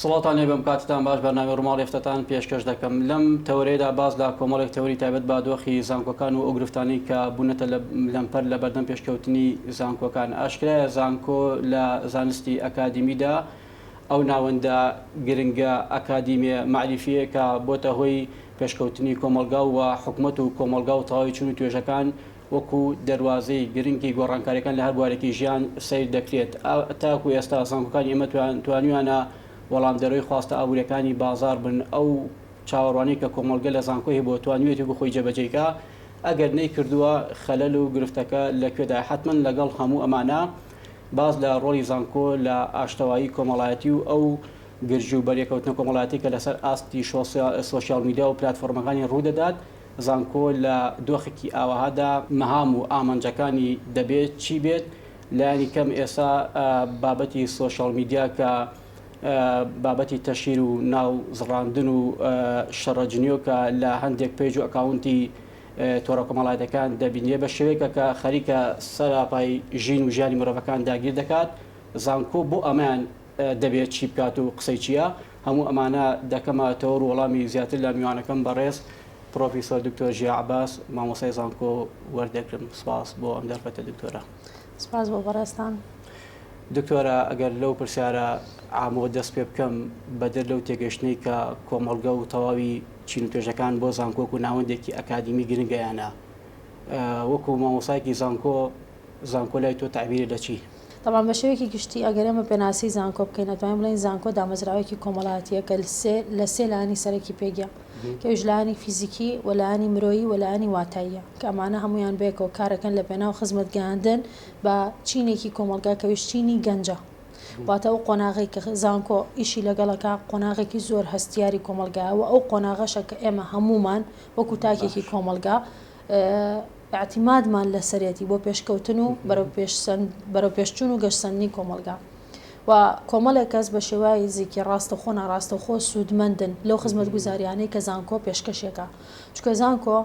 سڵاوتان لێ بم کاتتان باش بەرنامەی ڕوماڵی هەفتەتان پێشکەش دەکەم لەم تەوەرەیەدا باس لە کۆمەڵێک تەوەری تایبەت بە دۆخی زانکۆکان و ئەو گرفتانەی کە بونەتە لەمپەر لە بەردەم پێشکەوتنی زانکۆکان ئاشکرایە زانکۆ لە زانستی ئەکادیمیدا ئەو ناوەندە گرنگە ئەکادیمیە مەعریفیەیە کە بۆتە هۆی پێشکەوتنی کۆمەڵگا و حکومەت و کۆمەڵگا و تەواوی چون و توێژەکان وەکو دەروازەی گرنگی گۆڕانکاریەکان لە هەر بوارێکی ژیان سەیر دەکرێت. تاکو ئێستا زانکۆکانی ئێمە توانیویانە وەڵامدەرەوەی خواستە ئابوریەکانی بازاڕ بن، ئەو چاوەڕوانیەی کە کۆمەڵگە لە زانکۆ هەبووە توانیویەتی وەکو خۆی جێبەجێیکا، ئەگەر نەیکردووە خەلەل و گرفتەکە لە کوێدایە؟ حەتمەن لەگەڵ هەموو ئەمانە باس لە ڕۆڵی زانکۆ لە ئاشتەوایی کۆمەڵایەتی و ئەو گرژی و بەرێکەوتنە کۆمەڵایەتی کە لەسەر ئاستی سۆشیال میدیا و پلاتفۆرمەکانی ڕوودەدات، زانکۆ لە دۆخێکی ئاوەهادا مەهام و ئامانجەکانی دەبێ چی بێت؟ لانی کەم ئێستا بابەتی سۆشیاڵ میدیا کە بابەتی تەشهیر و ناو زڕاندن و شەڕە جنیۆکە لە هەندێک پەیج و ئەکاونتی تۆڕە کۆمەڵایەتەکان دەبینرێ بە شێوەیەکە کە خەریکە سەراپای ژین و ژیانی مرۆڤەکان داگیر دەکات زانکۆ بۆ ئەمەیان دەبێت چی بکات و قسەی چیە؟ هەموو ئەمانە دەکەمەەوە ڕوو وەڵامی زیاتر لە میوانەکەم بەڕێز پڕۆفیسۆر دکتۆر ژیا عەباس مامۆستای زانکۆ وەردەگرم سپاس بۆ ئەم دەرفەتە دکتۆرە سپاس بۆ بەڕێزتان دکتۆرە ئەگەر لەو پرسیارە ئامۆ دەست پێ بکەم بەدەر لەو تێگەشتنەی کە کۆمەڵگە و تەواوی چین و توێژەکان بۆ زانکۆک و ناوەندێکی ئەکادیمی گرنگیانە وەکو مامۆسایکی زانکۆ زانکۆ لای تۆ تەعبیرە لە چی؟ تەبعەن بە شێوەیەکی گشتی ئەگەر ئێمە پێناسی زانکۆ بکەین ئەتوانین بڵێین زانکۆ دامەزراوەیەکی کۆمەڵاتیە کە لە سێ لایەنی سەرەکی پێکیە کە ئەویش لایەنی فیزیکی و لایەنی مرۆیی و لایەنی واتاییە کە ئەمانە هەموویان بەیەکەوە کارەکەن لە پێناو خزمەت گەیاندن بە چینێکی کۆمەڵگا کە ئەویش چینی گەنجە واتە ئەو قۆناغی کە زانکۆ ئیشی لەگەڵەکە قۆناغێکی زۆر هەستیاری کۆمەڵگایە و ئەو قۆناغەشە کە ئێمە هەموومان وەکو تاکێکی کۆمەڵگا ئیعتیمادمان لەسەرێتی بۆ پێشکەوتن و بەرەوپێشچوون و گەشسەندنی کۆمەڵگا و کۆمەڵێک کەس بە شێوای زیکی ڕاستەخۆ ناڕاستەخۆ سوودمەندن لەو خزمەت گوزاریانەی کە زانکۆ پێشکەشێکە چکە زانکۆ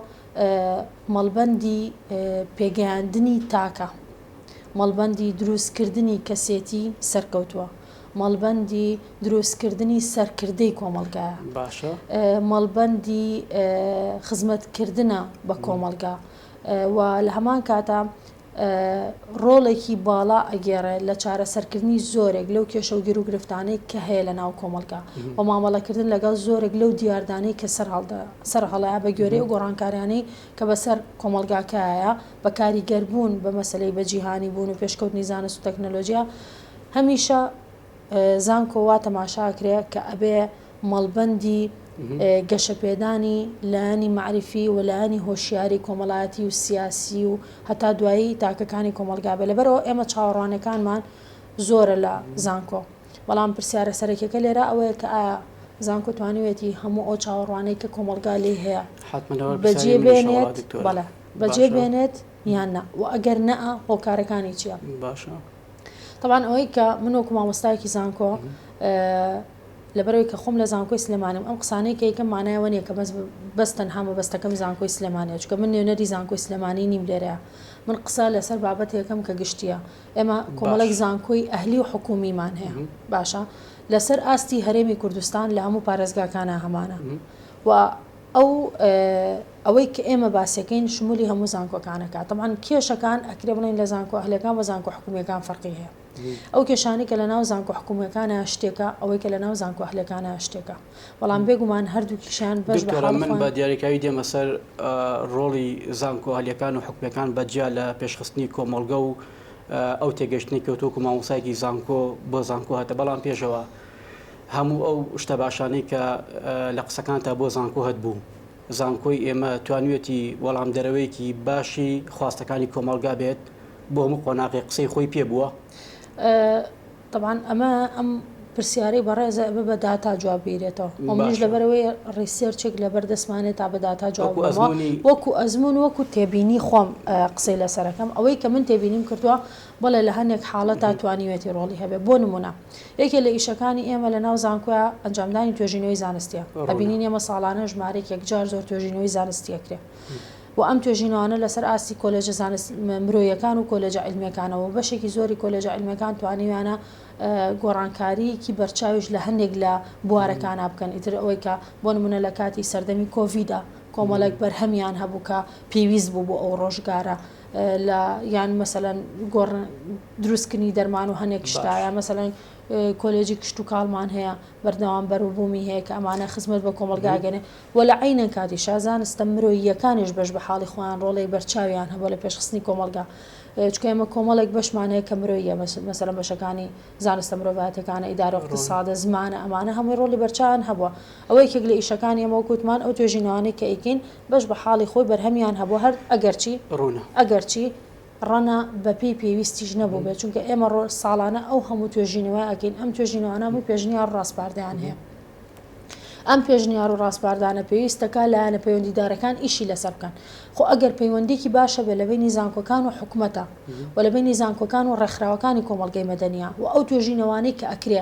مەڵبەندی پێگەیاندنی تاکە مەڵبەندی دروستکردنی کەسێتی سەرکەوتووە. مەڵبەندی دروستکردنی سەرکردەی کۆمەڵگایە، باشە مەڵبەندی خزمەتکردە بە کۆمەڵگا و لە هەمان کاتا ڕۆڵێکی باڵا ئەگێڕێ لە چارەسەرکردنی زۆرێک لەو کێشە و گرو گرفتانەی کە هەیە لە ناو کۆمەلگا و مامەڵەکردن لەگەڵ زۆرێک لەو دیاردانەی کە سەر هەڵدا سەر هەڵەیە بە گوێرەی و گۆڕانکاریانەی کە بەسەر کۆمەلگاکایە بە کاریگەربوون بە مەسلەی بە جیهانی بوون و پێشکەوتنی زانست و تەکنەلۆژیا هەمیشە زانکۆ وا تەماشا ئەکرێ کە ئەبێ مەڵبەندی گەشە پێدانی لایەنی مەعریفی و لایەنی هۆشیاری کۆمەڵایەتی و سیاسی و هەتا دوایی تاکەکانی کۆمەڵگا بێ لەبەرەوە ئێمە چاوەڕوانەکانمان زۆرە لە زانکۆ بەڵام پرسیارە سەرەکیەکە لێرە ئەوەیە کە ئایا زانکۆ توانیوێتی هەموو ئەو چاوەڕوانەی کە کۆمەڵگا لێی هەیە حتممەوە بەجێ بێنێت بەڵێ بەجێ بێنێت یان نا و ئەگەر نەئە هۆکارەکانی چیە باشە. تەبان ئەوەی کە من وەکو مامۆستایەکی زانکۆ لەبەرەوەی کە خۆم لە زانکۆی سلێمانم ئەم قسانەی کەیکە مانایەوە نیە کە بەس تەنها مەبەستەکەم زانکۆی سلێمانە چکە من نوێنەری زانکۆی سلێمانی نیم لێرەیە من قسە لەسەر بابەت یەکەم کە گشتیە ئێمە کۆمەڵێک زانکۆی ئەهلی و حکومیمان هەیە باشە لەسەر ئاستی هەرێمی کوردستان لە هەموو پارێزگاکانە هەمانە و ئەو ئەوەی کە ئێمە باسیەکەین شمولی هەموو زانکۆکانەکە تەمان کێشەکان ئەکرێ بڵین لە زانکۆ ئەهلەکان بە زانکۆ حکومیەکان فەرقی هەیە ئەو کێشانی کە لە ناو زانکۆ حکومیەکانە شتێکە ئەوەی کە لە ناو زانکۆ ئەهلەکانە شتێکە بەڵام بێگومان هەردوو کیشان بەش من بە دیارەکەوی دێمە سەر ڕۆڵی زانکۆ ئەهلەکان و حکومیەکان بەجیا لە پێشخستنی کۆمەڵگە و ئەو تێگەشتنی کەوتۆک و مامۆسایکی زانکۆ بۆ زانکۆ هەتە بەڵام پێشەوە هەموو ئەو شتە باشانەی کە لە قسەکانتا بۆ زانکۆ هەتبوو زانکۆی ئێمە توانوێتی وەڵام دەرەوەیەکی باشی خواستەکانی کۆمەڵگا بێت بۆ هەموو قۆناغی قسەی خۆی پێ بووە طبعاان ئەمە ئەم پرسیارەی بەڕێزە ئەمە بە داتا جواب بیرێتەوە ئەمش لەبەرەوەی ڕیسێرچێک لەبەر دەستمانێت تا بە داتا جواب وەکو ئەزمون وەکو تێبینی خۆم قسەی لەسەرەکەم ئەوەی کە من تێبینیم کردووە بەڵێ لە هەنێک حاڵەتا توانیوێتی ڕۆڵی هەبێ بۆ نموونە یەکێ لە ئیشەکانی ئێمە لە ناو زانکۆیا ئەنجامدانی توێژینەوەی زانستیە ئەبینین ئێمە ساڵانە ژمارێک یەکجار زۆر توێژینەوەی زانستی ئەکرێ و ئەم توێژینەوانە لەسەر ئاستی کۆلێژە زانست مرۆیەکان و کۆلێجە علمەکانەوە بەشێکی زۆری کۆلێجە علمەکان توانیویانە گۆڕانکاریەکی بەرچاویش لە هەندێک لە بوارەکانە بکەن ئیتر ئەوەی کە بۆ نمونە لە کاتی سەردەمی کۆڤیدا کۆمەڵێک بەرهەمیان هەبوو کە پێویست بوو بۆ ئەو ڕۆژگارە لە یان مەسەلەن گۆڕن دروستکردنی دەرمان و هەنێک شتا یا مەسەلەن کۆلێجی کشت و کاڵمان هەیە بەردەوام بەروبوومی هەیە کە ئەمانە خزمەت بە کۆمەلگاگەێ و لە عینە کاتی شازانستە مرۆییەکانیش بەش بە حاڵی خۆیان ڕۆڵی بەرچاویان هەبوو لە پێشخستنی کۆمەلگا چکە ئمە کۆمەڵێک بەشمانەیە کە مرۆیە مەسەلە بەشەکانی زانستە مرۆڤاتەکانە ئیدارە اقتصادە زمانە ئەمانە هەمووی ڕۆلی بەرچان هەبووە ئەوەی کێک لە ئیشەکانی ئەمە کووتمان ئەو توێژینەوانی کە ئیکین بەش بە حاڵی خۆی بەرهەمیان هەبوو هەر ئەگەرچی ڕوونە ئەگەرچی ڕەنا بە پێی پێویستیش نەبووبێت چونکە ئێمە ڕۆ ساڵانە ئەو هەموو توێژینەوە ئەکەین ئەم توێژینەوانە بووی پێشنیار ڕاسپاردەیان هەیە ئەم پێشنیار و ڕاسپاردانە پێویستەکە لایەنە پەیوەندیدارەکان ئیشی لەسەر بکەن خۆ ئەگەر پەیوەندێکی باشە بێ لە بینی زانکۆکان و حکومەتە و لە بینی زانکۆکان و ڕێکخراوەکانی کۆمەڵگەی مەدەنیا و ئەو توێژینەوانەی کە ئەکرێ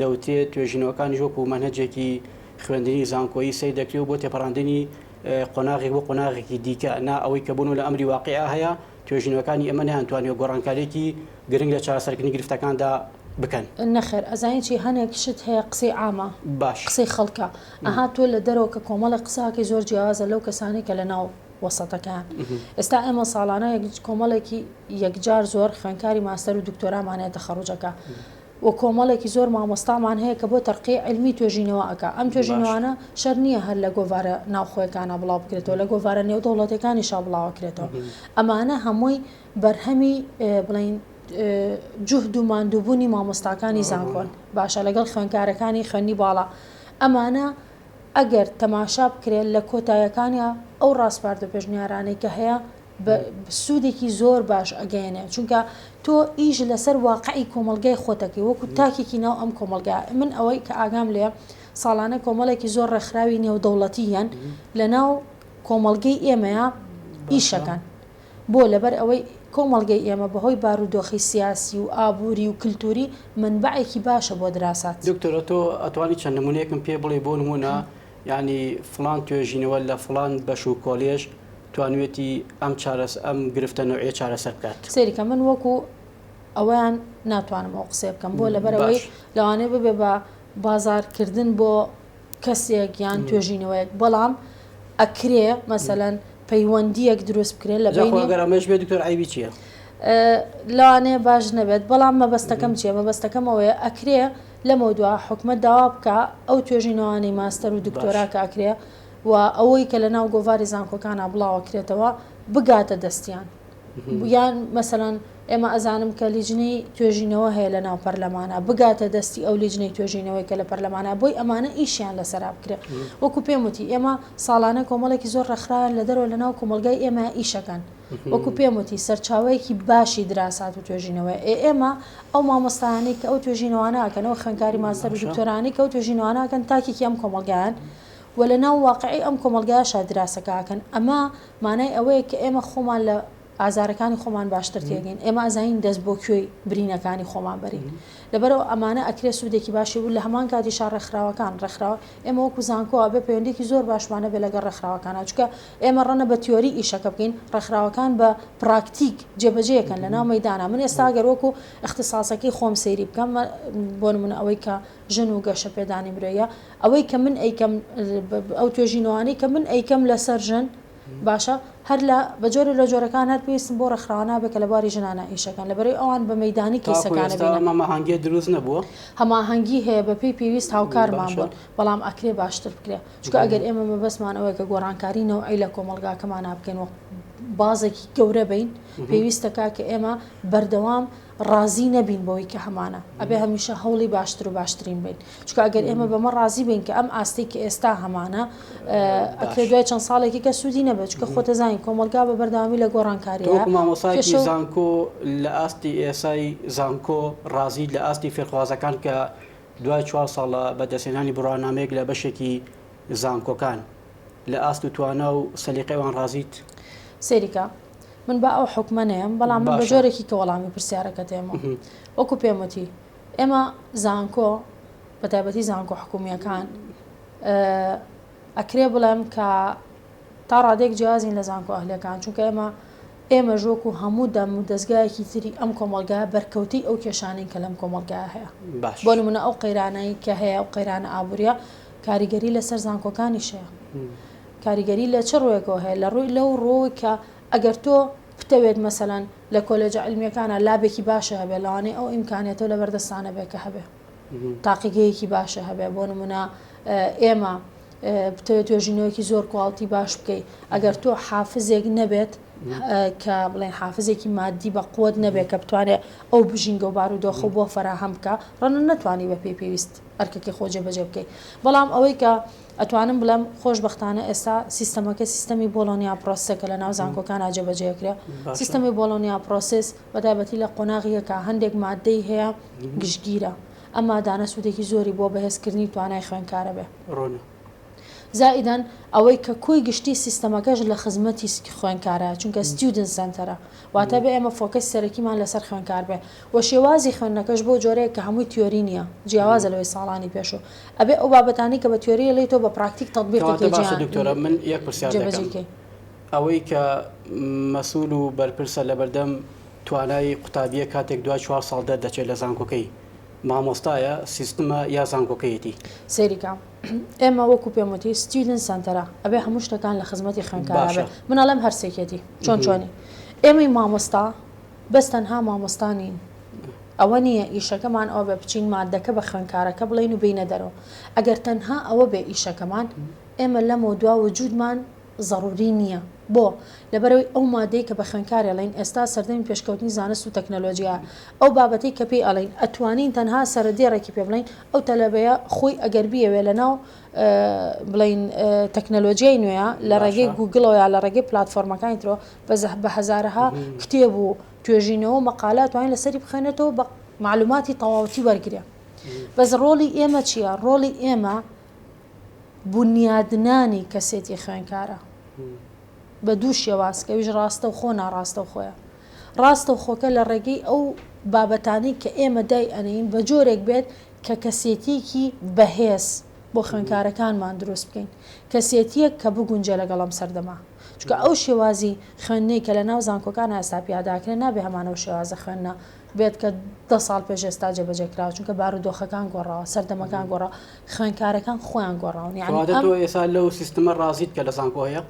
دەوترێت توێژینەوەکانیش وەکو مەنهەجێکی خوێندنی زانکۆیی سەیر دەکرێ و بۆ تێپەڕاندنی قۆناغێک بۆ قۆناغێکی دیکە نا ئەوەی کە بوون و لە ئەمری واقیع هەیە توێژینەوەکانی ئێمە نەیانتوانیوە گۆڕانکاریێکی گرنگ لە چارەسەرکردنی گرفتەکاندا بکەن. نەخێر ئەزانی چی هەنێک شت هەیە قسەی عامە باش قسەی خەڵکە ئەها تۆ لە دەرەوە کە کۆمەڵێک قسەکەی زۆر جیاوازە لەو کەسانەی کە لە ناو وەسەتەکەیان ئێستا ئێمە ساڵانە کۆمەڵێکی یەکجار زۆر خوێنکاری ماستەر و دکتۆرامان هەیە تەخەڕوجەکە و کۆمەڵێکی زۆر مامۆستامان هەیە کە بۆ تەرقیی عیلمی توێژینەوە ئەکا، ئەم توێژینەوانە شەرت نییە هەر لە گۆڤارە ناوخۆیەکانا بڵاو بکرێتەوە، لە گۆڤارە نێودەوڵەتیەکانیشا بڵاوە کرێتەوە، ئەمانە هەمووی بەرهەمی بڵێین جوهد و ماندووبوونی مامۆستاکانی زانکۆن باشە لەگەڵ خوێندکارەکانی خوێندنی باڵا، ئەمانە ئەگەر تەماشا بکرێت لە کۆتایەکانیا ئەو ڕاسپارد و پێشنیارانەی کە هەیە سودێکی زۆر باش ئەگەیەنێ چونکە تۆ ئیش لەسەر واقعی کۆمەلگای خۆتەکەی وەکو تاکێکی ناو ئەم کۆمەلگا من ئەوەی کە ئاگام لێ ساڵانە کۆمەڵێکی زۆر ڕێکخراوی نێودەوڵەتی یەن لە ناو کۆمەلگەی ئێمەیە ئیشەکەن بۆ لەبەر ئەوەی کۆمەلگەی ئێمە بەهۆی بارودۆخی سیاسی و ئابووری و کللتوری منبعێکی باشە بۆ دراسات. دکتۆرە تۆ ئەتوانی چەند نمونەیەکم پێ بڵێ بۆ نمونە یانی فڵان توێژینەوە لە فڵان بەش و کۆلێژ توانوێتی ئەم چارەس ئەم گرفتە نەوعیە چارەسەر بکات. سەیری کە من وەکو ئەوەیان ناتوانم ئەو قسەیە بکەم بۆ لەبەر ئەوەی لەوانەیە ببێ بە بازار کردن بۆ کەسێک یان توێژینەوەیەک بەڵام ئەکرێ مەسەلەن پەیوەندیەک دروست بکرێت لە بینی ئەگەر ئەمەش بێت دکتۆر عیبی چیە؟ لەوانەیە باش نەبێت بەڵام مەبەستەکەم چیە مەبەستەکەم ئەوەیە ئەکرێ لەمەودوا حکومەت داوا بکا ئەو توێژینەوانەی ماستەر و دکتۆرا کە ئەکرێ و ئەوەی کە لەناو گۆڤاری زانکۆکانا بڵاوەکرێتەوە بگاتە دەستیان یان مەسەلەن ئێمە ئەزانم کە لیجنەی توێژینەوە هەیە لە ناو پەرلەمانە بگاتە دەستی ئەو لیجنەی توێژینەوەی کە لە پەرلەمانە بۆی ئەمانە ئیشیان لەسەرا بکرێ وەکو پێم وتی ئێمە ساڵانە کۆمەڵێکی زۆر ڕێکخراویان لە دەرەوە لە ناو کۆمەلگای ئێمە ئیشەکەن وەکو پێم وتی سەرچاوەیەکی باشی دراسات و توێژینەوەیە، ئێ ئێمە ئەو مامۆستایانەی کە ئەو توێژینەوانە ئەکەن، ئەو خوێندکاری ماستەر و دکتۆرانەی کە ئەو توێژینەوانە ئەکەن تاکێکی ئەم کۆمەڵگایەن و لە ناو واقعی ئەم کۆمەڵگایەشا دراسەکە ئەکەن، ئەمە مانای ئەوەیە کە ئێمە خۆمان لە ئازارەکانی خۆمان باشتر تێگەین، ئێمە ئەزانین دەست بۆ کوێی برینەکانی خۆمان بەرین، لەبەرئەوە ئەمانە ئەکرێ سوودێکی باشی بوو، لە هەمان کاتیشا ڕێکخراوەکان، ڕێکخراوە ئێمە وەکو زانکۆ ئەبێ پەیوەندیەکی زۆر باشمان هەبێ لەگەڵ ڕێکخراوەکانا چونکە ئێمە ڕەنە بە تیۆری ئیشەکە بکەین ڕێکخراوەکان بە پراکتیک جێبەجێ یەکەن لە ناو مەیدانا من ئێستا گەر وەکو اختصاصەکەی خۆم سەیری بکەم بۆ نمونە ئەوەی کە ژن و گەشە پێدانی مرۆیە ئەوەی کە من ئەیکەم ئەو توێژینەوانەی کە من ئەیکەم لەسەر ژن باشە هەر لە بە جۆرێ لە جۆرەکان هەر پێویستن بۆ ڕێکخراوە نابێ کە لە بواری ژنانە ئیش ئەکەن لە بەرەی ئەوان بە مەیدانی تاکو کەیسەکانە ئێستا بێنن. ئەم هەماهەنگیە دروست نەبووە؟ هەماهەنگی هەیە بە پێی پێویست هاوکارمان باشە. بوون بەڵام ئەکرێ باشتر بکرێ چونکە ئەگەر ئێمە مەبەستمان ئەوەیە کە گۆڕانکاری نەوعی لە کۆمەڵگاکەمانا بکەین و بازێکی گەورە بین پێویستە کاکە ئێمە بەردەوام ڕازی نەبین بەوەی کە هەمانە ئەبێ هەمیشە هەوڵی باشتر و باشترین بین چکە ئەگەر ئێمە بەمە ڕازی بین کە ئەم ئاستی کە ئێستا هەمانە ئەکرێ دوای چەند ساڵێکی کە سوودی نەبێت چکە خۆتەزانین کۆمەلگا بە بەرداوامی لە گۆڕانکاری مامۆسای زانکۆ لە ئاستی ئێسای زانکۆ ڕازی لە ئاستی فێرخوازەکان کە دوای چوار ساڵە بەدەستێنانی بڕوانامەیەک لە بەشێکی زانکۆکان لە ئاست و توانا و سەلیقەی وان ڕازیت؟ سەیری کە، من با ئەو حوکمە نەیەم، بەڵام من بە جۆرێکی کە وەڵامی پرسیارەکەت ئێمەوە. وەکو پێم وتی، ئێمە زانکۆ، بە تایبەتی زانکۆ حکوومییەکان، ئەکرێ بڵێم کە تا ڕادێک جیازین لە زانکۆ ئەهلیەکان، چونکە ئێمە ئێمە ژۆک و هەموو دەم و دەستگایەکی تری ئەم کۆمەلگا بەرکەوتەی ئەو کێشانین کە لەم کۆمەلگا هەیە. بۆ نمونە ئەو قەیرانایی کە هەیە و قەیرانە ئابووریە، کاریگەری لەسەر زانکۆکانیش هەیە. کاریگەری لە چ ڕووێکەوە هەیە؟ لە ڕووی لەو ڕووەوەی کە ئەگەر تۆ بتەوێت مەسەلەن لە کۆلێجە عیلمییەکانا لابێکی باشە هەبێ، لەوانەیە ئەو ئیمکانیەتە و لەبەردەستا نەبێ کە هەبێ تاقیگەیەکی باشە هەبێ. بۆ نموونە ئێمە بتەوێت توێژینەوەیەکی زۆر کواڵتی باش بکەی، ئەگەر تۆ حافزێک نەبێت کە بڵێن حافزێکی مادی بە قوەت نەبێت کە بتوانێت ئەو بژینگە و بارودۆخە بۆ فەراهەم بکا، ڕەنە نەتوانی بە پێی پێویست ئەرکەکەی خۆ جێبەجێ بکەی بەڵام ئەوەی کە ئەتوانم بڵێم خۆش بەختانە ئێستا سیستەمەکە سیستەمی بۆڵۆنیا پرۆسسە کە لە ناو زانکۆکانە جێبەجێ کرێ سیستەمی بۆڵۆنیا پرۆسس بەتابەتی لە قۆناغیەکە هەندێک مادەی هەیە گشتگیرە ئەمادانە سوودێکی زۆری بۆ بەهێزکردنی توانای خوێنکارە بێ. زائیدەن ئەوەی کە کۆی گشتی سیستەمەکەش لە خزمەتی خوێندکارە چونکە ستیودنت سەنتەرە واتە بێ ئێمە فۆکەسی سەرەکیمان لەسەر خوێندکار بێ و شێوازی خوێندنەکەش بۆ جۆرەیەک کە هەمووی تیۆری نییە جیاوازە لەوەی ساڵانی پێشوو ئەبێ ئەو بابەتانەی کە بە تیۆری ئەڵێی تۆ بە پراکتیک تەتبیقی کەی کەواتە باشە دکتۆرە من یەک پرسیار دەکەم جێبەجێی کەی. ئەوەی کە مەسول و بەرپرسە لەبەردەم توانای قوتابییە کاتێک دوای چوار ساڵ دەردەچێت لە زانکۆکەی مامۆستایە سیستمە یا زانکۆکەیەتی؟ سەیری کە ئێمە وەکو پێم وتی ستیودن سەنتەرە ئەبێ هەموو شتەکان لە خزمەتی خوێنکارا بێ من ئەڵێم هەرسێکێتی چۆن چۆنی ئێمەی مامۆستا بەس تەنها مامۆستا نین ئەوە نییە ئیشەکەمان ئەوە بێ بچین مادەکە بە خوێنکارەکە بڵین و بینە دەرەوە ئەگەر تەنها ئەوە بێ ئیشەکەمان ئێمە لەمەوە دوا وجودمان زەڕووری نییە. بۆ؟ لەبەرئەوەی ئەو مادەی کە بە خوێندکار ئێڵێین ئێستا سەردەمی پێشکەوتنی زانست و تەکنەلۆجیایە، ئەو بابەتەی کە پێی ئەڵێین ئەتوانین تەنها سەرە دێڕێکی پێ بڵێین، ئەو تەلەبەیە خۆی ئەگەر بیەوێ لە ناو بڵێین تەکنەلۆجیای نوێیە لە ڕێگەی گووگڵەوە یا لە ڕێگەی پلاتفۆرمەکانی ترەوە بە زە بە هەزارەها کتێب و توێژینەوە و مەقالە ئەتوانێ لە سەری بخوێنێتەوە بە مەعلووماتی تەواوەتی وەرگرێ. بەس ڕۆڵی ئێمە چییە؟ ڕۆڵی ئێمە. بونیادنانی کەسێتی خوێنکارە بە دوو شێواز کە ئەویش ڕاستەوخۆ ناڕاستەوخۆیە. ڕاستەوخۆکە لە ڕێگەی ئەو بابەتانەی کە ئێمە دای ئەنێین بە جۆرێک بێت کە کەسێتییەکی بەهێز بۆ خوێنکارەکانمان دروست بکەین، کەسێتییەک کە بگونجێ لەگەڵ ئەم سەردەمە. چونکە ئەو شێوازی خوێندنەی کە لە ناو زانکۆکانا ئێستا پیاداکرێ نابێ هەمانەو شێوازە خوێندنە بێت کە دە ساڵ پێش ئێستا جێبەجێ کراوە چونکە بارودۆخەکان گۆڕاوە سەردەمەکان گۆڕا خوێنکارەکان خۆیان گۆڕاون ئێسا لەو سیستمە ڕازیت کە لە زانکۆ هەیە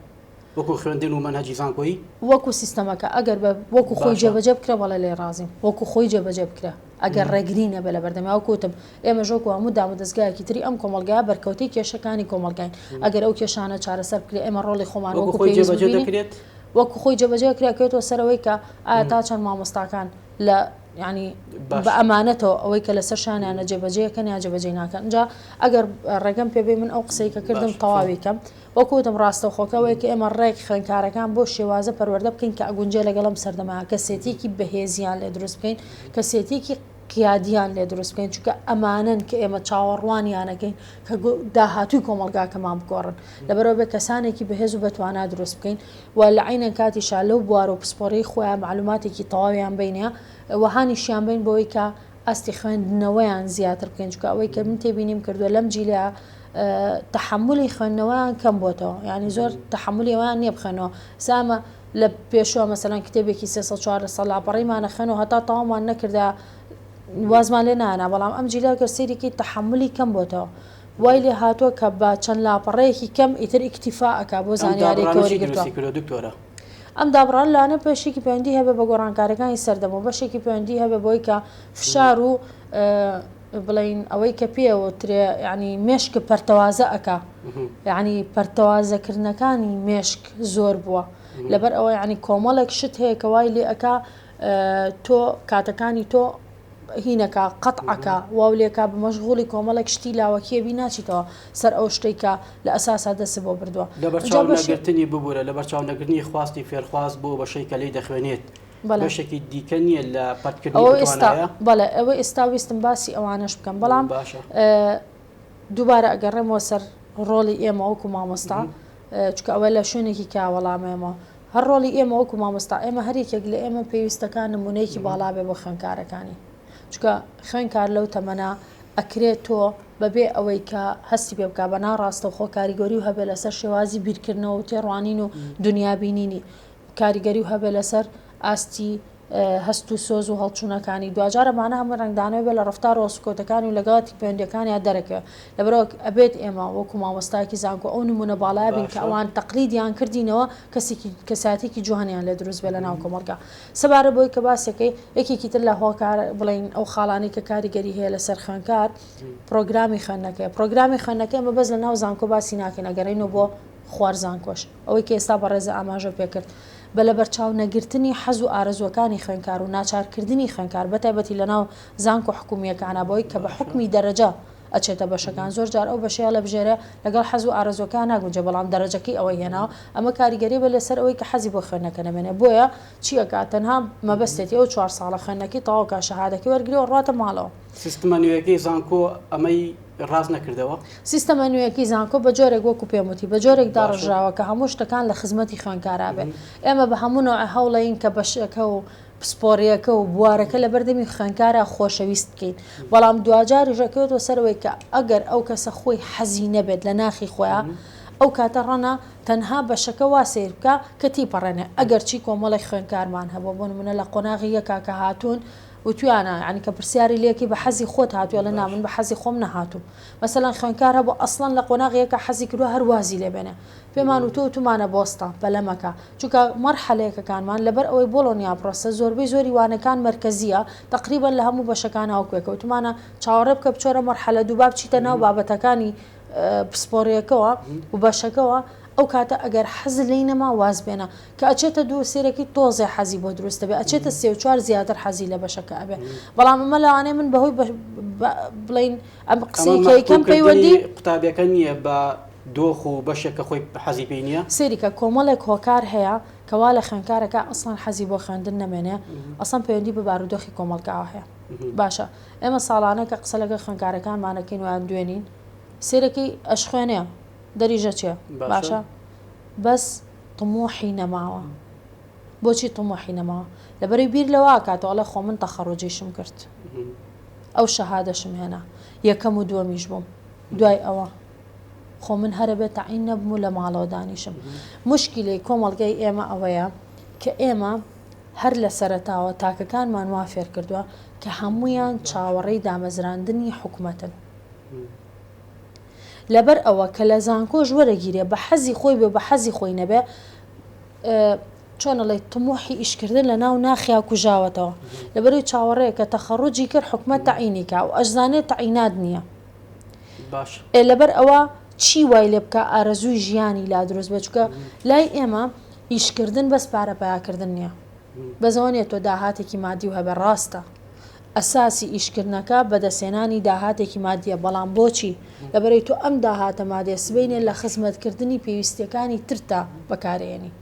وەکو خوێندن و مەنهجی زانکۆی وەکو سیستەمەکە ئەگەر بە وەکو خۆی جێبەجە بکرە بەڵێ لێ ڕازیم وەکو خۆی جێبەجە بکرە ئەگەر ڕێگری نەبێ لە بەردەمیا کوتم ئێمە ژۆک هەموو دامە دەستگایەکی تری ئەم کۆمەلگای بەرکەوتی کێشەکانی کۆمەلگاین ئەگەر ئەو کێشانە چارەسەر بکرێ ئێمە ڕۆڵی خۆمان وەکو خۆی جێبەجە دەکرێت وەکو خۆی جێبەجێ کرا کەوێتەوە سەر ئەوەی کە ئایا تا چەند مامۆستاکان لە ینی بە ئەمانەتەوە ئەوەی کە لەسەر شانیانە جێبەجەکەن یا جێبەجێ ناکەن جا ئەگەر ڕێگەم پێبێ من ئەو قسەی کە کردم تەواوی کەم وەکوتم ڕاستە خۆکەوەی کە ئێمە ڕێک خوێنکارەکان بۆ شێوازە پەروەەردە بکەین کە ئەگونجێ لەگەڵم سەردەما کەسێتێکی بەهێزیان لێ دروست بکەین کەسێتێکی قیادیان لێ دروست بکەین، چونکە ئەمانەن کە ئێمە چاوەڕوانیانەکەین کە داهاتووی کۆمەڵگاکەمان بگۆڕن، لەبەرئەوە بێ کەسانێکی بەهێز و بەتوانا دروست بکەین و لە عەینەن کاتیشا لەو بوار و پسپۆرەی خۆیان مەعلوماتێکی تەواویان بینە و هانیشیان بەین بۆوەی کە ئاستی خوێندنەوەیان زیاتر بکەین، چونکە ئەوەی کە من تێبینیم کردووە لەم جیلە تەحەمولی خوێندنەوەیان کەم بۆتەوە، یانی زۆر تەحەمولی ئەوەیان نییە بخوێنەوە، سامە. لە پێشوە مەسەلەن کتێبێکی سێ سەد چوار سەد لاپەڕیمان نەخوێن و هەتا تەواومان نەکردا وازمان لێ نانا بەڵام ئەم جیلا گەر سەیرێکی تەحملی کەم بۆتەوە وای لێ هاتووە کە بە چەند لاپەڕەیەکی کەم ئیتر ئیکتیفا ئەک بۆ زانیاری کەوری گرتووە دکتۆرە ئەم دابڕان لاانە پێشێکی پەیوەندی هەبێ بە گۆڕانکارەکانی سەردەمەوە بەشێکی پەیوەندی هەبێ بۆی کە فشار و بڵێین ئەوەی کە پێ وترێ یعنی مێشک پەرتەوازە ئەکا یعنی پەرتەوازەکردنەکانی مێشک زۆر بووە لەبەر ئەوە یعنی کۆمەڵێک شت هەیە کە وای لێ ئەکا تۆ کاتەکانی تۆ هینەکە قەتعەکە واو لێکا بمەشغوڵی کۆمەڵێک شتی لاوەکیەبی ناچیتەوە سەر ئەو شتێکە لە ئەساسا دەست بۆ بردووە لەبەرچاو نەگرتنی ببوورە لە بەرچاو نەگرنی خواستی فێرخواز بۆ بەشەی کە لی دەخوێنێت بەشێکی دیکە نییە لە پەتکردنەوە ئەوە ئێستا ویستم باسی ئەوانەش بکەم بەڵام باشە دووبارە ئەگەڕێمەوە سەر ڕۆڵی ئێمە وەکو مامۆستا چکە ئەوە لە شوێنێکی کاوەڵامێمەوە هەر ڕۆڵی ئێمە وەکو مامۆستا ئێمە هەرێکێک لە ئێمە پێویستەکان نمونەیەکی باڵابێ بۆ خوێنکارەکانی چکە خوێنکار لەو تەمەە ئەکرێت تۆ بەبێ ئەوەی کە هەستی پێ بکە بە ناڕاستە خۆ کاریگەری و هەبێ لەسەر شێوازی بیرکردنەوە و تێڕوانین و دنیابینینی کاریگەری و هەبێ لەسەر ئاستی هەست و سۆز و هەڵچوونەکانی دواجارە مانە هەمە ڕنگدانەوە بێ لە ڕفتار ڕۆسکۆتەکانی و لەگەڵاتی پەیوەندەکانیان دەرەکەوێ لەبەرەوە ئەبێت ئێمە وەکو مامۆستایکی زانکۆ ئەو نمونە باڵا بین کە ئەوان تەقلیدیان کردینەوە کەسێکی کەساتێکی جوانیان لە دروست بێ لە ناو کۆمەڵگا سەبارە بۆی کە باسەکەی یەکێکی تر لە هۆکار بڵین ئەو خاڵانی کە کاریگەری هەیە لەسەر خوێنکار پرۆگرامی خوێندنەکەی پرۆگرامی خوێندنەکەی مە بەس لە ناو زانکۆ باسی ناکەین ئەگەڕینەوە بۆ خوار زانکۆش. ئەوەی کە ئێستا بەڕێزە ئاماژە پێ کرد، بە لەبەرچاو نەگرتنی حەز و ئارەزووەکانی خوێندکار و ناچار کردنی خوێندکار بە تایبەتی لە ناو زانکۆ حکوومییەکانا بەوەی کە بە حوکمی دەرەجە ئەچێتە بەشەکان، زۆر جار ئەو بەشەی هەڵەبژێرێ لەگەڵ حەز و ئارەزووەکەیا ناگونجێ بەڵام دەرەجەکەی ئەوەی هێناوە، ئەمە کاریگەرییە بە لەسەر ئەوەی کە حەزی بۆ خوێندنەکە نەمێنێ بۆیە چی ئەکا تەنها مەبەستێتی ئەو چوار ساڵە خوێندنەکەی تەواو کا شەهادەکەی وەرگرێ و ڕواتە ماڵەوە. سیستمە نوێیەکەی زانکۆ ئەمەی ڕاست نەکردەوە. سیستەمە نوێیەکەی زانکۆ بە جۆرێک وەکو پێم وتی بە جۆرێک داڕژراوە کە هەموو شتەکان لە خزمەتی خوێندکارا بێ. ئێمە بە هەموو نەوعێ هەوڵەین کە بەشەکە و پسپۆڕییەکە و بوارەکە لە بەردەمی خوێندکارا خۆشەویست بکەین. بەڵام دواجاریش ئەکەوێتەوە سەر ئەوەی کە ئەگەر ئەو کەسە خۆی حەزی نەبێت لە ناخی خۆیا، ئەو کاتە ڕەنە تەنها بەشەکە وا سەیر بکا کە تیپەڕێنێ. ئەگەرچی کۆمەڵێک خوێندکارمان هەبووە بۆ نموونە لە قۆناغی یەکا کە هاتوون، وتویانە یانی کە پرسیاری لێکی بە حەزی خۆت هاتوی ئەڵێ نا من بە حەزی خۆم نەهاتوم مەسەلەن خوێنکار هەبوو ئەسڵەن لە قۆناغی یەکا حەزی کردوە هەر وازی لێ بێنێ پێمان وتوە وتومانە بۆستان پەلە مەکە چونکە مەرحەلە یەکەکانمان لەبەر ئەوەی بۆڵۆنیا پڕۆسە زۆربەی زۆری وانەکان مەرکەزیە تەقریبەن لە هەموو بەشەکان هاوکوێکە وتومانە چاوەڕێ بکە بچۆرە مەرحەلە دوو با بچیتە ناو بابەتەکانی پسپۆڕیەکەوە وبەشەکەوە ئەو کاتە ئەگەر حەزت لێی نەما واز بێنە کە ئەچێتە دوو سێرەکی تۆزێ حەزی بۆ دروست دەبێ ئەچێتە سێ و چوار زیاتر حەزی لە بەشەکە ئەبێ بەڵام ئەمە لەوانەیە من بەهۆی بڵین ئەم قسەی کەیکەم پەیوەندی قوتابیەکە نییە بە دۆخ و بەشێک کە خۆی حەزی پێی نییە سێریکە کۆمەڵێک هۆکار هەیە کەوا لە خوێنکارەکە ئەسڵەن حەزی بۆ خوێندن نەمێنێ ئەسڵەن پەیوەندی بە بارودۆخی کۆمەڵکاوە هەیە باشە ئێمە ساڵانە کە قسە لەگە خوێنکارەکانمانەکەین ویان دوێنین سێرەکەی ئەشخوێنێ دەریژە چێ باشە بەس طموحی نەماوە بۆچی طموحی نەماوە لەبەری بیر لەوە کاتەوە ئەڵێ خۆ من تەخەڕوجیشم کرد ئەو شەهادەشم هێنا یەکەم و دووەمیش بووم دوای ئەوە خۆ من هەرە بێت تەعین نەبم و لە ماڵەوە دانیشم مشکلی کۆمەڵگای ئێمە ئەوەیە کە ئێمە هەر لە سەرتاوە تاکەکانمان وا فێر کردووە کە هەمویان چاوەڕێی دامەزراندنی حکومەتن لەبەر ئەوە کە لە زانکۆش وەرەگیرێ بە حەزی خۆی بێ بە حەزی خۆی نەبێ چۆن ئەڵێ طموحی ئیشکردن لە ناو ناخیا کوژاوەتەوە لەبەروی چاوەڕێ کە تەخەڕوجی کرد حکومەت تەعینی کا و ئەشزانێت تەعینات نییە باش ئێ لەبەر ئەوە چی وای لێ بکە ئارەزووی ژیانی لا دروست بێت چکە لای ئێمە ئیشکردن بەس پارە پیاکردن نییە بەزەوە نیە تۆ داهاتێکی مادی و هەبێ ڕاستە ئەساسی ئیشکردنەکە بەدەستهێنانی داهاتێکی مادیە، بەڵام بۆچی؟ لەبەرەی تۆ ئەم داهاتە مادیە سبەینێ لە خزمەتکردنی پێویستیەکانی ترتدا بەکارئێنی.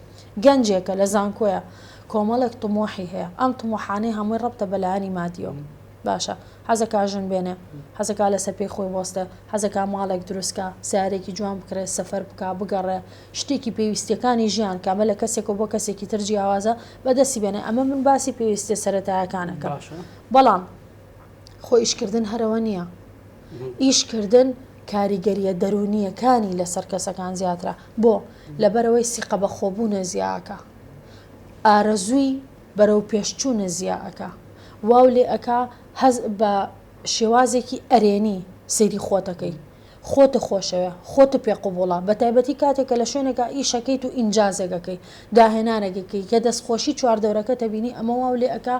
گەنجێکە لە زانکۆیە کۆمەڵێک طموحی هەیە، ئەم طموحانەی هەمووی ڕەبتە بە لایەنی مادیەوە. باشە حەزەکا ژن بێنێ، حەزەکا لەسەر پێی خۆی بوەستێ، حەزەکا ماڵێک دروستکا، سەیارەیەکی جوان بکڕێ، سەفەر بکا، بگەڕێ، شتێکی پێویستیەکانی ژیان کە ئەمە لە کەسێکەوە بۆ کەسێکی تر جیاوازە بەدەستی بێنێ ئەمە من باسی پێویستیە سەرەتایەکانەکەم بەڵام خۆ ئیشکردن هەرەوە نییە ئیشکردن کاریگەریە دەرونیەکانی لەسەر کەسەکان زیاترە بۆ لەبەرەوەی سیقە بە خۆبوونە زیاکە ئارەزووی بەرەو پێشچوونە زیاکە واو لێ ئەک هەز بە شێوازێکی ئەرێنی سەیری خۆتەکەی خۆت خۆشەوێ، خۆت پێ قبوڵە، بەتایبەتی کاتێک کە لە شوێنێکا ئیشەکەیت و ئینجازێک ئەکەی، داهێنانێک ئەکەی، کە دەستخۆشی چواردەورەکەت ئەبینی ئەمە واو لێ ئەکا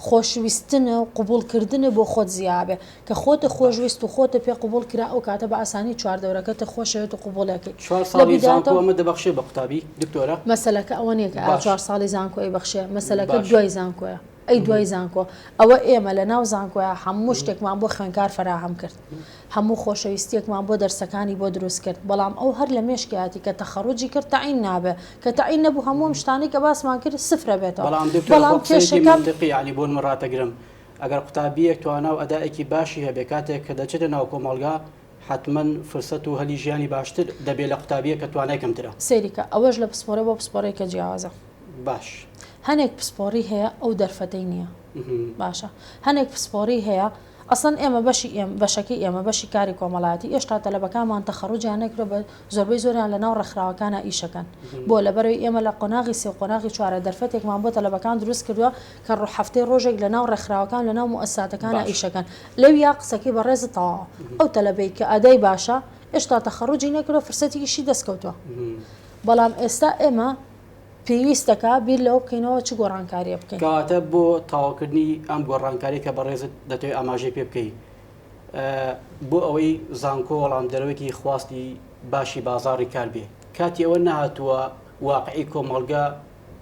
خۆشویستن و قبوڵکردنت بۆ خۆت زیا ئەبێ، کە خۆت خۆشویست و خۆت پێ قبوڵ کرا ئەو کاتە بە ئاسانی چواردەورەکەت خۆشەوێت و قبوڵی ئەکەی. چوار ساڵی زانکۆ ئەمە دەبەخشێ بە قوتابی دکتۆرە؟ مەسەلەکە ئەوە نیە کە ئایا چوار ساڵی زانکۆ ئەیبەخشێ، مەسەلەکە دوای زانکۆیە. ئەی دوای زانکۆ؟ ئەوە ئێمە لە ناو زانکۆیا هەموو شتێکمان بۆ خوێنکار فەراهەم کرد. هەموو خۆشەویستیەکمان بۆ دەرسەکانی بۆ دروست کرد. بەڵام ئەو هەر لە مێشکیاتی کە تەخەڕوجی کرد تەعین نابێ. کە تەعین نەبوو هەموو ئەم شتانەی کە باسمان کرد سفر ئەبێتەوە. بەڵام دکتۆر بۆ قسەیەکی مەنتقی یانی بۆ نموو ڕاتەگرم ئەگەر قوتابیەک توانا و ئەدائێکی باشی هەبێ کاتێک کە دەچێتە ناو کۆمەڵگا حەتمەن فرسەت و هەلی ژیانی باشتر دەبێ لە قوتابییەک کە توانای کەمترە. سەیری کە، ئەوەش لە پسپۆرە بۆ پسپۆرەیەکە جیاوازە. باش. هەنێک پسپۆری هەیە ئەو دەرفەتەی نییە. باشە. هەنێک پسپۆری هەیە، ئەسڵەن ئێمە بەشی ئێمە، بەشەکەی ئێمە، بەشی کاری کۆمەڵایەتی، ئێشتا تەلەبەکانمان تەخەڕوجیان نەکردووە بە زۆربەی زۆریان لە ناو ڕێکخراوەکانا ئیش ئەکەن. بۆ؟ لەبەرەوەی ئێمە لە قۆناغی سێ و قۆناغی چوارە دەرفەتێکمان بۆ تەلەبەکان دروست کردووە کە ڕۆ حەفتەی ڕۆژێک لە ناو ڕێکخراوەکان لە ناو موئەسساتەکانا باش. ئیشەکەن لەویا قسەکەی بەڕێزت تەواوە ئەو تەلەبەی کە ئەدای باشە ئێشتا تەخەڕوجی نەکردوە فرسەتی ئیشی دەست کەوتوە بەڵام ئێستا ئێمە پێویستەکا بیر لەوە بکەینەوە چ گۆڕانکاریە بکەین. کەواتە بۆ تەواوکردنی ئەم گۆڕانکاریە کە بەڕێزت دەتەوێ ئاماژەی پێ بکەی ئە بۆ ئەوەی زانکۆ وەڵام دەرەوەێکی خواستی باشی بازاڕی کار بێ کاتی ئەوە نەهاتوە واقعی کۆمەڵگە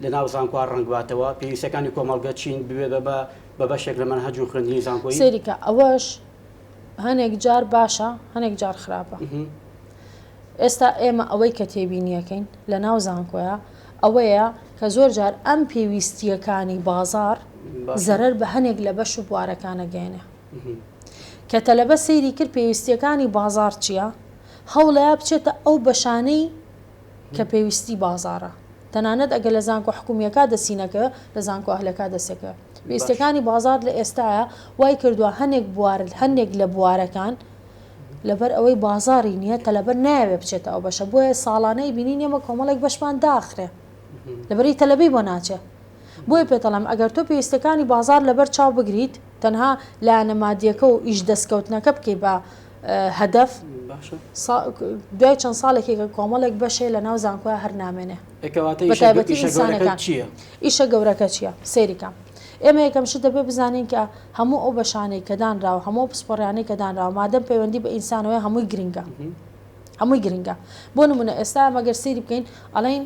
لە ناو زانکۆا ڕەنگ باتەوە پێویستیەکانی کۆمەڵگە چین ببێ بە بە بە بەشێک لە مەنهەج و خوێندنی زانکۆیی. سەیری کە ئەوەش هەنێک جار باشە هەنێک جار خراپە ئێستا ئێمە ئەوەی کە تێبینیەکەین لە ناو زانکۆە ئەوەیە کە زۆر جار ئەم پێویستیەکانی بازار زەرەر بە هەنێک لە بەش و بوارەکانە گەێنێ کە تەلەبە سەیری کرد پێویستیەکانی بازار چیە هەوڵەیە بچێتە ئەو بەشانەی کە پێویستی بازاڕە تەنانەت ئەگەر لە زانکۆ حکومیەکا دەسی نەکە لە زانکۆ ئەهلەکا دەسێکە پێویستەکانی بازاڕ لە ئێستایا وای کردوە هەنێک بوار هەنێک لە بوارەکان لەبەر ئەوەی بازاڕی نیە تەلەبە نایەوێ بچێتە ئەو بەشە بۆیە ساڵانەی بینین ئێمە کۆمەڵێک بەشمان داخرێ لەبەری تەلەبەی بۆ ناچێ بۆیە پێتەڵم ئەگەر تۆ پێویستەکانی بازار لەبەر چاو بگریت تەنها لایەنە مادیەکە و ئیش دەستکەوتنەکە بکەی بە هەدەف دوای چەند ساڵێکی کە کۆمەڵێک بەشێ لە ناو زانکۆە هەر نامێنێ ئیشە گەورەکە چییە سێریکە ئێمە یەکەم شت دەبێ بزانین کە هەموو ئەو بەشانەی کە دانراوە هەموو پسپۆڕیانەی کە دانراوە مادەم پەیوەندی بە ئینسانەوەی هەمووی گرنگە هەمووی گرنگە بۆ نمونە ئێستا مەگەر سری بکەین ئەڵین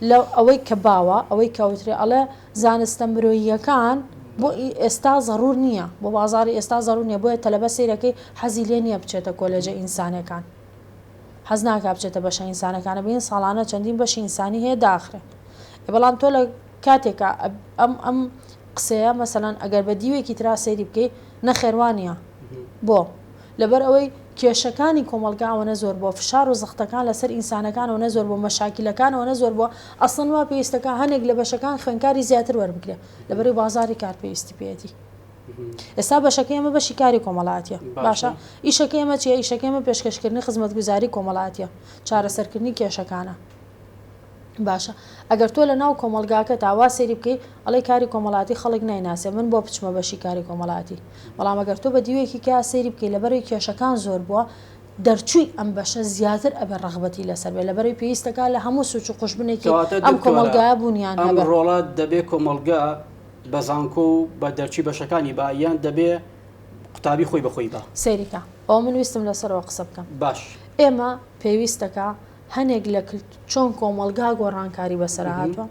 لە ئەوەی کە باوە، ئەوەی کە ئەوترێ ئەڵێ زانستە مرۆییەکان بۆ ئی ئێستا زەڕوور نییە، بۆ بازاڕی ئێستا زەڕوور نییە، بۆیە تەلەبە سەیرەکەی حەزی لێ نییە بچێتە کۆلێجە ئینسانەکان، حەز ناکا بچێتە بەشە ئینسانەکانە، بینن ساڵانە چەندین بەشی ئینسانی هەیە داخرێن. ئێ بەڵام تۆ لە کاتێکا ئەم ئەم قسەیە مەسەلەن ئەگەر بە دیوێکی ترا سەیری بکەی، نەخێر وا نییە. بۆ؟ لەبەر ئەوەی کێشەکانی کۆمەڵگا ئەوەنە زۆر بووە، فشار و زەختەکان لە سەر ئینسانەکان ئەوەنە زۆر بووە، مەشاکیلەکان ئەوەنە زۆر بووە، ئەسڵەن وا پێویستە کە هەنێک لە بەشەکان خوێنکاری زیاتر وەربگرێ، لەبەرەی بازاری کار پێویستی پێیەتی. ئێستا بەشەکەی ئێمە بەشی کاری کۆمەڵاتیە باشە ئیشەکەی ئێمە چیە ئیشەکەی ئێمە پێشکەشکردنی خزمەتگوزاری کۆمەڵاتیە چارەسەرکردنی کێشەکانە. باشە ئەگەر تۆ لەناو کۆمەڵگاکەتا وا سەیری بکەی ئەڵێی کاری کۆمەڵاتی خەڵک نایناسێ من بۆ بچمە بەشی کاری کۆمەڵاتی بەڵام ئەگەر تۆ بە دیوێکی کەا سەیری بکەی لەبەرەی کێشەکان زۆر بووە دەرچووی ئەم بەشە زیاتر ئەبێ ڕەغبەتی لەسەر بێ لەبەرەی پێویستەکا لە هەموو سوچ و قوژبنێکی ئەم کۆمەڵگایە بوونیان هەبێ. ئەم ڕۆڵە دەبێ کۆمەڵگا بە زانکۆ و بە دەرچووی بەشەکانی با یان دەبێ قوتابی خۆی بە خۆی با؟ سەیری کە ئەوە من ویستم لەسەرەوە قسە بکەم. باش. ئێمە پێویستەکا. هەنێک لە کلت چۆن کۆمەڵگا گۆڕانکاری بەسەرا هاتوە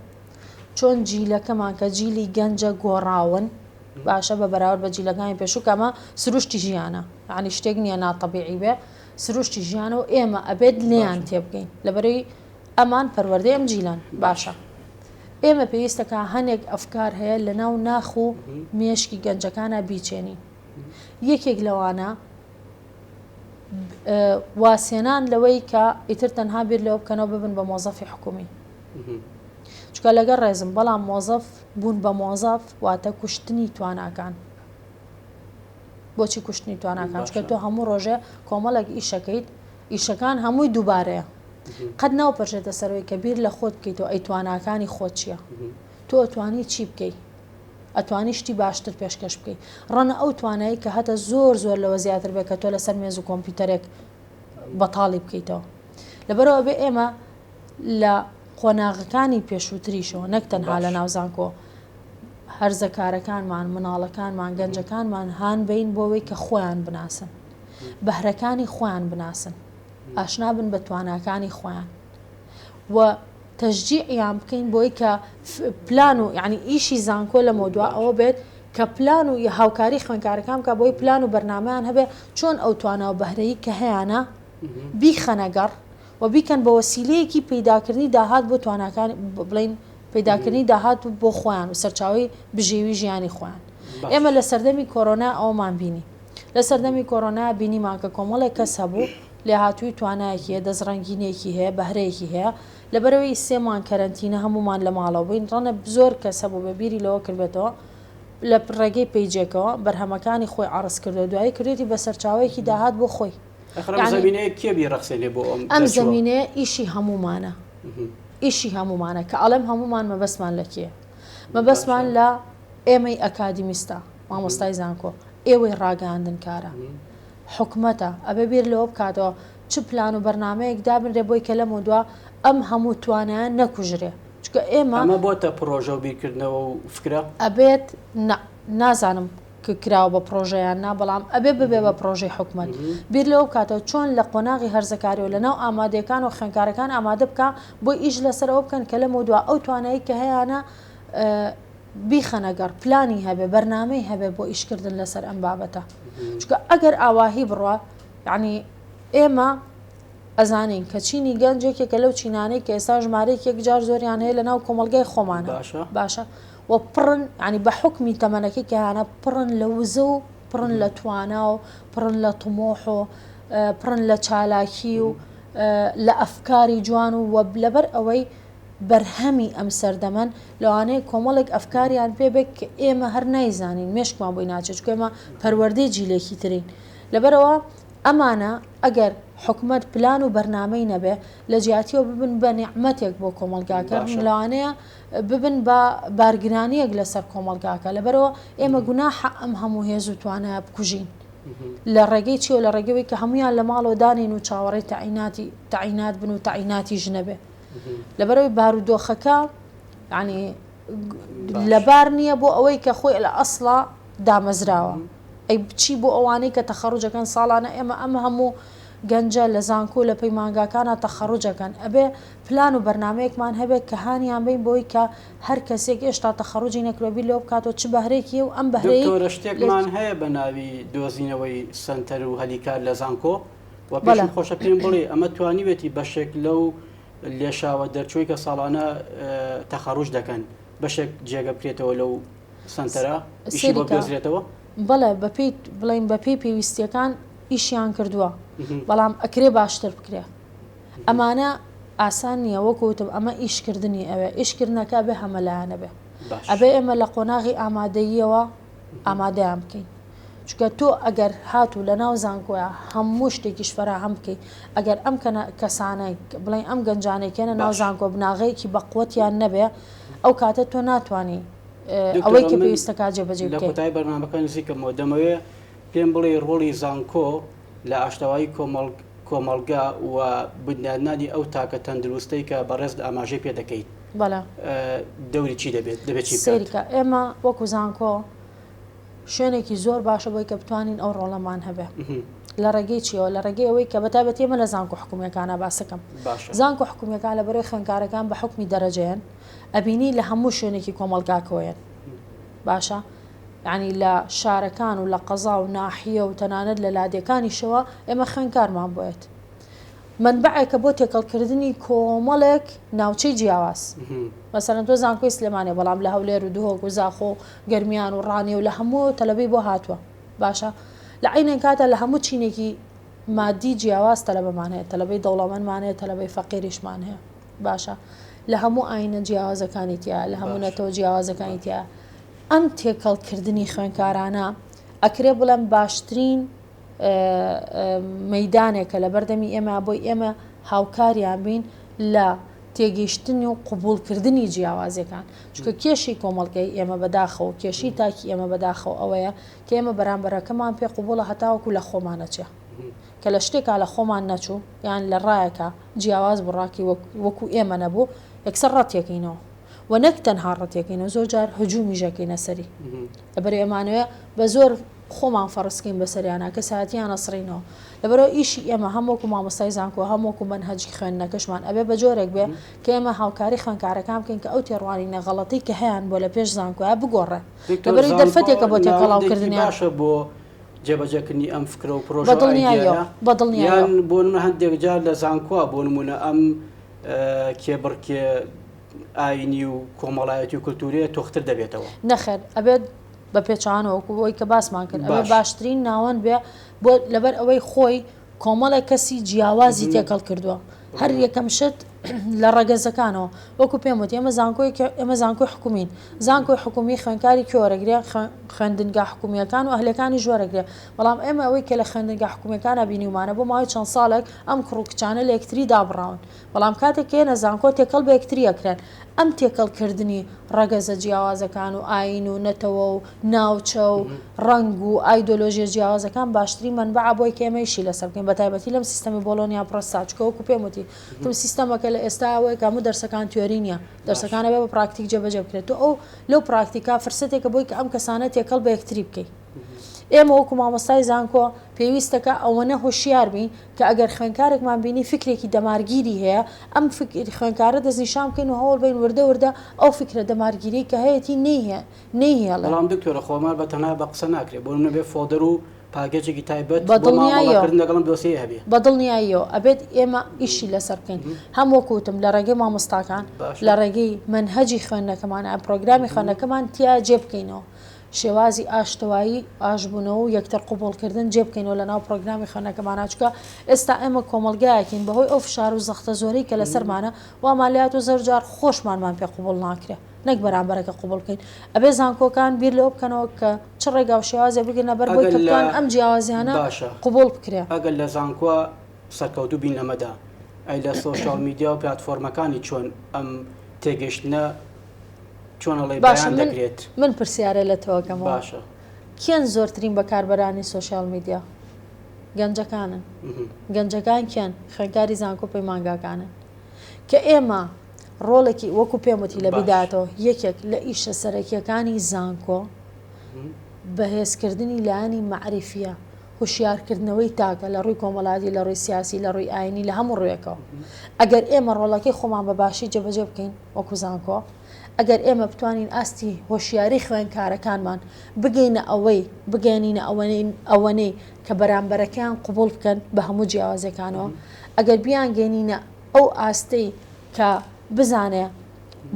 چۆن جیلەکەمان کە جیلی گەنجە گۆڕاون باشە بە بەراورد بە جیلەکانی پێشوو کە ئەمە سروشتی ژیانە یعنی شتێک نییە ناتەبیعی بێ سروشتی ژیانە و ئێمە ئەبێت لێیان تێبگەین لەبەرەی ئەمان پەروەردەی ئەم جیلان باشە ئێمە پێویستەکە هەنێک ئەفکار هەیە لە ناو ناخ و مێشکی گەنجەکانە بیچێنین یەکێک لەوانە وازهێنان لەوەی کە ئیتر تەنها بیر لەوە بکەنەوە ببن بە مۆزەفی حکومی چکە لەگەر ڕێزم بەڵام مۆزەف بوون بە مۆزەف واتە کوشتنی تواناکان بۆچی کوشتنی تواناکان چکە تۆ هەموو ڕۆژێ کۆمەڵێک ئیشەکەیت ئیشەکان هەمووی دووبارەیە قەت ناو پەرژێتە سەرەوەی کە بیر لە خۆت بکەیتەوە ئەی تواناکانی خۆ چییە تۆ توانی چی بکەیت ئەتوانی شتی باشتر پێشکەش بکەی ڕەنە ئەو توانایی کە هەتە زۆر زۆر لەوە زیاتر بێت کە تۆ لەسەر مێز و کۆمپیوتەرێک بەتاڵی بکەیتەوە لەبەرەوە بێ ئێمە لە قۆناغەکانی پێشووتریشەوە نەک تەنها لە ناوزانکۆ هەرزەکارەکانمان مناڵەکانمان گەنجەکانمان هاان بین بۆەوەی کە خۆیان بناسن بەهرەکانی خۆیان بناسن ئاشنا بن بە تواناکانی خۆیان و تەشجیعیان بکەین بۆی کە پلان و یانی ئیشی زانکۆ لەمەودوا ئەوە بێت کە پلان و هاوکاری خوێنکارەکان بکات بۆی پلان و بەرنامەیان هەبێ چۆن ئەو توانا و بەهرەی کە هەیانە بیخەنە گەڕ و بیکەن بە وەسیلەیەکی پەیداکردنی داهات بۆ تواناکان بڵێین پەیداکردنی داهات و بۆ خۆیان و سەرچاوەی بژێوی ژیانی خۆیان ئێمە لە سەردەمی کۆرۆنا ئەوەمان بینی لە سەردەمی کۆرۆنا بینیمان کە کۆمەڵێک کەس هەبوو لێهاتووی توانایەکی هەیە دەستڕەنگینیەکی هەیە بەهرەیەکی هەیە لەبەرئەوەی سێ مانگ کەرەنتینە هەموومان لە ماڵەوە بووین ڕەنە زۆر کەس هەبوو بێ بیری لەوە کردبێتەوە لە ڕێگەی پەیجێکەوە بەرهەمەکانی خۆی عەڕز کردو دوایی کردوێتی بە سەرچاوەیەکی داهات بۆ خۆی ئەم زەمینەیە ئیشی هەموومانە ئیشی هەموومانە کە ئەڵێم هەموومان مەبەستمان لە کێ مەبەستمان لە ئێمەی ئەکادیمیستە مامۆستای زانکۆ ئێوەی ڕاگەاندن کارە حکومەتە ئەبێ بیر لەوە بکاتەوە چ پلان و بەرنامەیەک دابنرێ بۆی کە لەمەودوا ئەم هەموو توانایە نەکوژرێ چونکە ئێمە ئەمە بۆتە پڕۆژە و بیرکردنەوە و فکرە؟ ئەبێت نا نازانم ک کراوە بە پڕۆژە یان نا بەڵام ئەبێ ببێ بە پڕۆژەی حکومەت بیر لەوە بکاتەوە چۆن لە قۆناغی هەرزەکاری و لەناو ئامادەیەکان و خوێندکارەکان ئامادە بکا بۆی ئیش لەسەر ئەوە بکەن کە لەمەودوا ئەو توانایەی کە هەیانە بیخەنە گەڕ پلانی هەبێ بەرنامەی هەبێ بۆ ئیشکردن لەسەر ئەم بابەتە چکە ئەگەر ئاواهی بڕە یعنی ئێمە ئەزانین کە چینی گەنج یەکێکە لەو چینانەی کە ئێستا ژمارەیەک یەکجار زۆریان هەیە لە ناو کۆمەلگای خۆمان باشە باشە و پڕن ینی بە حکمی تەمەەکی کەیانە پڕن لە وزە و پڕن لە توانا و پڕن لە تمۆح و پڕن لە چالاکی و لە ئەفکاری جوان و وەب لەبەر ئەوەی بەرهەمی ئەم سەردەمەن، لەوانەیە کۆمەڵێک ئەفکاریان پێ بێت کە ئێمە هەر نایزانین، مێشکمان بۆی ناچێت، چونکە ئێمە پەروەردەی جیلێکی ترین. لەبەرئەوە ئەمانە ئەگەر حکومەت پلان و بەرنامەی نەبێت، لە جیاتیەوە ببن بە نیعمەتێک بۆ کۆمەڵگاکە، لەوانەیە ببن بە بارگرانییەک لەسەر کۆمەڵگاکە، لەبەرئەوە ئێمە گوناحە ئەم هەموو هێز و توانایە بکوژین. لە ڕێگەی چییەوە؟ لە ڕێگەی ئەوەی کە هەموویان لە ماڵەوە دانێین و چاوەڕێی تەعیناتی تەعینات بن و تەعیناتیش نەبێت. لەبەرەوەی بارودۆخەکە ینی لەبار نییە بۆ ئەوەی کە خۆی لە ئەسڵا دامەزراوە ئەی بچی بۆ ئەوانەی کە تەخەڕجەکەن ساڵانە ئێمە ئەمە هەموو گەنجە لە زانکۆ لە پەیمانگاکانە تەخەڕجەکەن ئەبێ پلان و بەرنمەیەکمان هەبێت کە هانیان بین بۆی کە هەر کەسێک هێشتا تەخەڕجی نەکرۆبی لەو بکاتەوە چ بەهرێکی و ئەم بەهرەی شتێکمان هەیە بە ناوی دۆزینەوەی سنتەر و هەلیکار لە زانکۆ وەپێشم خۆشە پێم بڵێ ئەمە توانیوێتی بەشێک لەو لێشاوە دەرچووی کە ساڵانە تەخەڕوش دەکەن بەشێک جێگە بکرێتەوە لەو سنتەرە ئیشی بۆ گەزرێتەوە بەڵێ بەپیت بڵین بەپی پێویستیەکان ئیشیان کردووە بەڵام ئەکرێ باشتر بکرێ ئەمانە ئاسان نییە وەکوتم ئەمە ئیشکردنی ئەوێ ئیشکردنەکە بێ هەمەلایەنە بێ ئەبێ ئێمە لە قۆناغی ئامادەییەوە ئامادەیان بکەین چونکە تۆ ئەگەر هاتوو لە ناو زانکۆە هەموو شتێکیش فەراهەم بکەیت ئەگەر ئەم کەسانە بڵێن ئەم گەنجانێکێنە ناو زانکۆ بناغەیەکی بەقوتیان نەبێ ئەو کاتە تۆ ناتانی ئەوەی کە پێویستەکە جێبەجێ لە کۆتایی بەرنامەکە نزیکەمەوە دەمەوێ پێم بڵێ ڕۆڵی زانکۆ لە ئاشتەوایی کۆمەڵگا و بنیادنانی ئەو تاکە تەندروستەی کە بەڕێزت ئاماژەی پێ دەکەیت دەوری چی دەبێت دەبێت چی سەریکە ئێمە وەکو زانکۆ شوێنێکی زۆر باشە بۆی کە بتوانین ئەو ڕۆڵەمان هەبێ لە ڕێگەی چیەوە لە ڕێگەی ئەوەی کە بەتابەت ئێمە لە زانکۆ حکومیەکانە باسەکەم زانکۆ حکومیەکان لە بەرەی خوێنکارەکان بە حکمی دەرەجەیەن ئەبینی لە هەموو شوێنێکی کۆمەلگاکەوەیەن باشە ینی لە شارەکان و لە قەزا و ناحیە و تەنانەت لە لادێکانیشەوە ئێمە خوێنکارمان بێت مەنبەعێکە بۆ تێکەڵ کردنی کۆمەڵێک ناوچەی جیاواز مەسەلەن تۆ زانکۆی سلێمانێ بەڵام لە هەولێر و دهۆک و زاخۆ و گەرمیان و ڕانێ و لە هەموو تەلەبەی بۆ هاتووە باشە لە عینێن کاتە لە هەموو چینێکی مادی جیاواز تەلەبەمان هەیە تەلەبەی دەوڵەمەندمان هەیە تەلەبەی فەقیریشمان هەیە باشە لە هەموو ئاینە جیاوازەکانی تیا لە هەموو نەتەوە جیاوازەکانی تیا ئەم تێکەڵکردنی خوێنکارانە ئەکرێ بڵێم باشترین مەیدانێکە لەبەردەمی ئێمە بۆی ئێمە هاوکاریان بین لە تێگەیشتنی و قوبولکردنی جیاوازیەکان چکە کێشی کۆمەڵگەی ئێمە بەداخەوە کێشی تاکی ئێمە بەداخەوە ئەوەیە کە ئێمە بەرامبەرەکەمان پێ قوبوڵە هەتاوەکو لە خۆمانەچێ کە لە شتێکا لە خۆمان نەچوو یان لە ڕایەکە جیاواز بڕاکی وەکو ئێمە نەبوو یەکسەر ڕەتێکینەوە و نەک تەنها ڕەتێکینەوە زۆر جار هجوومی ژەکەینە سەری لەبەر ئێمانەوە بە زۆر خۆمان فەڕزکەین بەسەریانا کەسایەتیان ئەسڕینەوە لەبەرئەوە ئیشی ئێمە هەم وەکو مامۆستای زانکۆ هەم وەکو مەنهەجی خوێندنەکەشمان ئەبێ بەجۆرێک بێ کە ئێمە هاوکاری خوێندکارەکان بکەین کە ئەو تێڕوانینە غەڵەتەی کە هەیان بۆ لەپێش زانکۆیە بگۆڕێ لەبەرئەوەی دەرفەتێکە بۆ تێکەڵاوکردنیان. جێبەجێکردنی ئەم فکرە و پرۆژە و ئایدیایە یان بۆ نمونە هەندێک جار لە زانکۆ بۆ نمونە ئەم کێبڕکێ ئاینی و کۆمەڵایەتی و کلتوریە تۆختر دەبێتەوە نەخێر ئەبێت بە پێچوانەوەکو ئەوی کە باسمان کرد ئەوە باشترین ناوەند بێ بۆ لەبەر ئەوەی خۆی کۆمەڵێک کەسی جیاوازی تێکەڵ کردووە هەر یەکەم شت لە ڕەگەزەکانەوە وەکو پێم وتی ئەمە زانکۆی ئەمە زانکۆی حکومین زانکۆی حکومی خوێنکاری کۆرەگرێ خوێندنگا حکومیەکان و ئەهلەکانی ژۆرەگرێ بەڵام ئێمە ئەوەی کە لە خوێندنگا حکومیەکانە بینیمانە بۆ ماوەی چەند ساڵێک ئەم کوڕ و کچانە لە یەکتری دابڕاون بەڵام کاتێک کە یەنە زانکۆ تێکەڵ بە یەکتری ئەکرێن، ئەم تێکەڵ کردنی ڕەگەزە جیاوازەکان و ئایین و نەتەوە و ناوچە و ڕەنگ و ئایدۆلۆژیە جیاوازەکان باشترین مەنبەعە بۆی کە ئێمە ئیشی لەسەر بکەین بە تایبەتی لەم سیستەمی بۆڵۆنیا پڕۆسسا چکە وەکو پێم وتی تم سیستەمە کە لە ئێستا ئەوەیە کە هەموو دەرسەکان تیۆری نییە دەرسەکانە بێ بە پراکتیک جێبەجێ بکرێت تۆ ئەو لەو پراکتیکا فرسەتێکە بۆی کە ئەم کەسانە تێکەڵ بە یەکتری بکەیت ئێمە وەکو مامۆستای زانکۆ پێویستەکە ئەوەنە هۆشیار بین کە ئەگەر خوێنکارێکمان بینی فیکرێکی دەمارگیری هەیە، ئەم خوێنکارە دەستنیشان بکەین و هەوڵ بەین وردە وردە ئەو فیکرە دەمارگیرەی کە هەیەتی نەیهێڵێ. بەڵام دکتۆرە خۆمار بە تەنها بە قسە ناکرێ، بۆ نمونە بێ فۆڵدەر و پاکێجێکی تایبەت بۆ مامەڵە کردن لەگەڵ ئەم دۆسیەیە هەبێ؟ بە دڵنیاییەوە ئەبێت ئێمە ئیشی لەسەر بکەین، هەم وەکو وتم لە ڕێگەی مامۆستاکان، لە ڕێگەی مەنهەجی خوێندنەکەمان، پرۆگرامی خوێندنەکەمان تیا جێ بکەینەوە. شێوازی ئاشتەوایی، ئاشبوونەوە و یەکتر قبوڵکردن جێبکەینەوە لەناو پڕۆگرامی خوێندنەکەمانا، چونکە ئێستا ئێمە کۆمەڵگایەکین بەهۆی ئەو فشار و زەختە زۆرەی کە لەسەرمانە وامان لێهاتووە زۆرجار خۆشمانمان پێ قبوڵ ناکرێ نەک بەرامبەرەکە قبوڵ بکەین، ئەبێ زانکۆکان بیر لەوە بکەنەوە کە چ ڕێگا و شێوازێ بگرنە بەر بۆی کە بتوانن ئەم جیاوازیانە قبوڵ بکرێ. باشە ئەگەر لە زانکۆ سەرکەوتوو بین لەمەدا ئەی لە سۆشیاڵ میدیا و پلاتفۆرمەکانی چۆن ئەم تێگەیشتنە باشە من پرسیارە لە تۆکەم باشە کێن زۆرترین بەکاربەرانی سوۆسیال میدیا گەنجەکانن گەنجەکان کێن خوێنکاری زانکۆ پەیمانگاکانن کە ئێمە ڕۆڵێکی وەکو پێموتی لە بداتەوە یەکێک لە ئیشە سەرەکیەکانی زانکۆ بەهێزکردنی لایەنی معریفە هوشیارکردنەوەی تاکە لە ڕووی کۆمەڵاتی لە ڕووی سیاسی لە ڕووی ئاینی لە هەموو ڕوێکەوە ئەگەر ئێمە ڕۆڵەکەی خۆمان بە باشی جەبەجە بکەین وەکو زانکۆ ئەگەر ئێمە بتوانین ئاستی هۆشیاری خوێندکارەکانمان بگەینە ئەوەی بگەیەنینە ئەوەنەی کە بەرامبەرەکەیان قوبوڵ بکەن بە هەموو جیاوازەکانەوە ئەگەر بیان گەێنینە ئەو ئاستەی کە بزانێ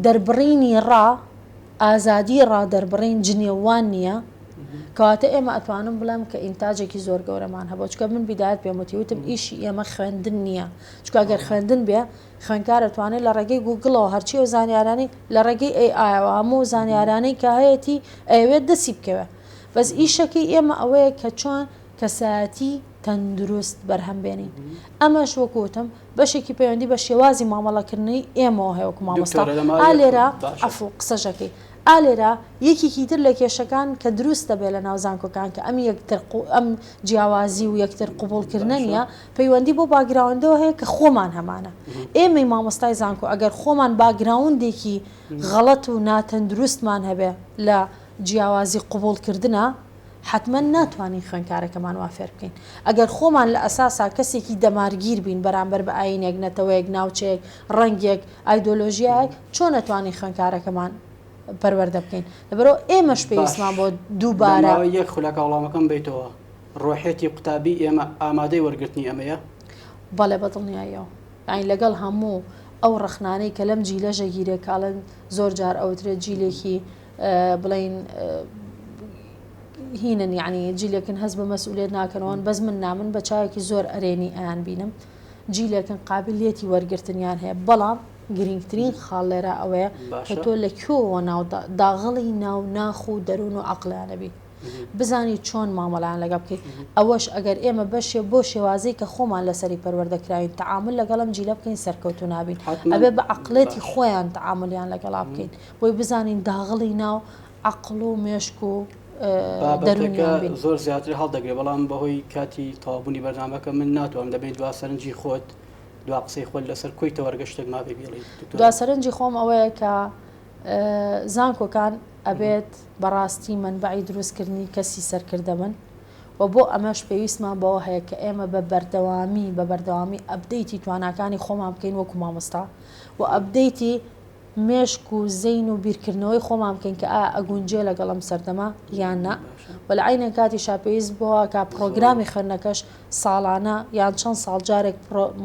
دەربڕینی ڕا ئازادی ڕا دەربڕین جنێوان نییە کەواتە ئێمە ئەتوانم بڵێم کە ئینتاجێکی زۆر گەورەمان هەبوو چکە من بیدات پێمەتی وتم ئیشی ئێمە خوێندن نییە چکگەر خوێندن بێ خوێندکار ئەتوانێت لە ڕێگەی گووگڵەوە هەرچی ئەو زانیارانەی لە ڕێگەی ئەی ئایەوە هەموو زانیارانەی کە هەیەتی ئەیەوێت دەستی بکەوێت بەس ئیشەکەی ئێمە ئەوەیە کە چۆن کەسایەتی تەندروست بەرهەم بێنین ئەمەش وەکو وتم بەشێکی پەیوەندی بە شێوازی مامەڵەکردنی ئێمەوە هەیە وەکو مامۆستا دکتۆرە لەماوەی ئا لێرە باشە عەفوو قسەژەکەی ئا لێرە یەکێکی تر لە کێشەکان کە دروست دەبێت لە ناو زانکۆکان کە ئەم یەکتر قو ئەم جیاوازی و یەکتر قبووڵکردنە باشە نییە پەیوەندی بەو باگراوندەوە هەیە کە خۆمان هەمانە. ئێمەی مامۆستای زانکۆ ئەگەر خۆمان باگراوندێکی غەڵەت و ناتەندروستمان هەبێ لە جیاوازی قبوڵ کردنا، حەتمەن ناتوانین خوێنکارەکەمان وا فێر بکەین. ئەگەر خۆمان لە ئەساسا کەسێکی دەمارگیر بین بەرامبەر بە ئایینێک، نەتەوەیەک، ناوچەیەک، ڕەنگێک، ئایدۆلۆژیایەک، چۆن نەتوانین خوێنکارەکەمان پەروەردە بکەین؟ لەبەرئەوە ئێمەش پێویستمان بۆ دووبارە. باش، لە ماوەی یەک خولەکا وڵامەکەم بەیتەوە. ڕۆحیەتی قوتابی ئێمە ئامادەی وەرگرتنی ئەمەیە؟ بەڵێ بە دڵنیاییەوە. یانی لەگەڵ هەموو ئەو ڕەخنانەی کە لەم جیلە ژەگیرە کە ئەڵێن زۆر جار ئەوترێت جیلێکی بڵێین هینن یعنی جیلێکن هەز بە مەسئولێت ناکەنەوەن بەس من نامن بە چاوێکی زۆر ئەرێنی ئەیان بینم جیلێکن قابلیەتی وەرگرتنیان هەیە بەڵام گرنگترین خاڵ لێرە ئەوەیە کە تۆ لە کوێەوە ناو داغڵی ناو ناخ و دەروون و عقلانەبی بزانی چۆن مامەڵەیان لەگەڵ بکەی ئەوەش ئەگەر ئێمە بەشێ بۆ شێوازی کە خۆمان لەسەری پەروەردە کراوین تەعامل لەگەڵم جیلە بکەین سەرکەوتو نابین ئەبێ بە عقلێتی خۆیان تەعاملیان لەگەڵا بکەین بۆی بزانین داغڵی ناو عقل و مێشک و دەرونیان زۆر زیاتر هەڵدەگرێ بەڵام بەهۆی کاتی تەوابوونی بەرنمەکە من ناتوانم دەبێت دوا سەرنجی خۆت دوا قسەی خۆل لەسەر کۆی تەوەرگە شتێک مابێ بڵی دوا سەرنجی خۆم ئەوەیە کە زانکۆکان ئەبێت بەڕاستی مەنبەعی دروستکردنی کەسی سەرکردە بن و بۆ ئەمەش پێویستمان بەوە هەیە کە ئێمە بە بەردەوامی بە بەردەوامی ئەبدەیتی تواناکانی خۆمان بکەین وەکو مامۆستا و ئەبدەیتی مێشک و زین و بیرکردنەوەی خۆمان بکەین کە ئا ئەگونجێ لەگەڵم سەردەما یان نا و لە عینە کاتی شاپێویست بۆە کا پرۆگرامی خوێندنەکەش ساڵانە یان چەند ساڵ جارێک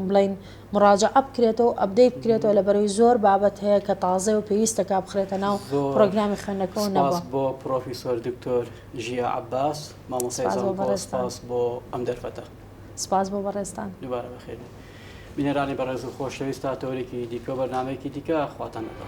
بڵێن مراجعە بکرێتەوە و ئەبدەیت بکرێتەوە لە بەرەوەی زۆر بابەت هەیە کە تازەیە و پێویستە کە بخرێتە ناو پرۆگرامی خوێندنەکەەوە نەبووە بۆ پرۆفیسۆر دکتۆر ژیا عباس مامۆسای زانکۆ سپاس بۆ ئەم دەرفەتە سپاس بۆ بەڕێزتان دووبارە بەخێربێن بینەرانی بەڕێز و خۆشەویست تا تەوەرێکی دیکە و بەرنمەیەکی دیکە خواتان لەگەڵ